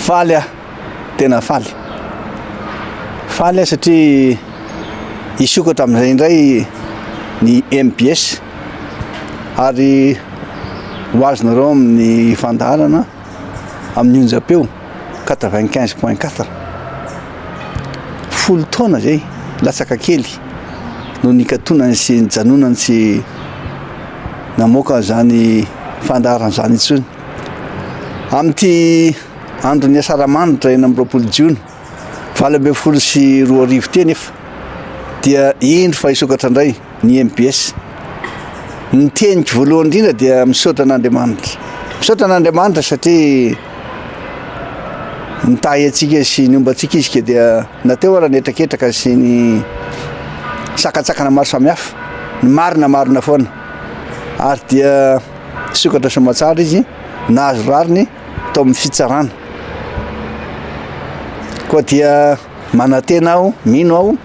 Faly aho, tena faly. Faly aho satria hisokatra amin'izay indray ny mbs ary ho azonareo amin'ny fandaharana amin'ny onjam-peo quatre vingt quinze point quatre. Folo taona izay latsaka kely no nikatonany sy nijanonany tsy namoaka izany fandaharana izany intsony. Amin'ity andron'ny Asaramanitra enina amby roapolo jiona valo ambin'ny folo sy roa arivo ity anefa dia indro fa hisokatra indray ny mbs. Ny teniko voalohany indrindra dia misaotra an'Andriamanitra. Misaotra an'Andriamanitra satria nitahy antsika sy niomba antsika izy ka dia nateo ara ny hetraketraka sy ny sakantsakana maro samihafa. Ny marina marina foana. Ary dia Nisokatra soamantsara izy, nahazo rariny tao amin'ny fitsarana. Koa dia manantena aho, mino aho,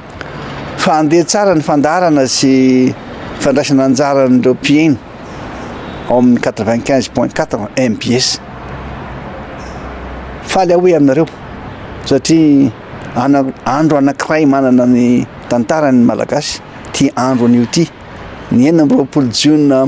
fa handeha tsara ny fandaharana sy fandraisana anjara an'ireo mpiheno ao amin'ny quatre-vingt-quinze point quatre mbs. Faly aho hoe aminareo satria ana- andro anankiray manana ny tantarany ny Malagasy ity andro anio ity, ny enina amby roapolo jiona.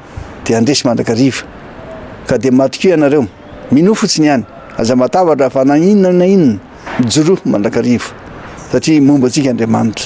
dia handresy mandrakariva. Ka dia matokia ianareo. Minoa fotsiny ihany. Aza matahotra fa na inona na inona. Mijoroa mandrakariva. Satria momba antsika Andriamanitra.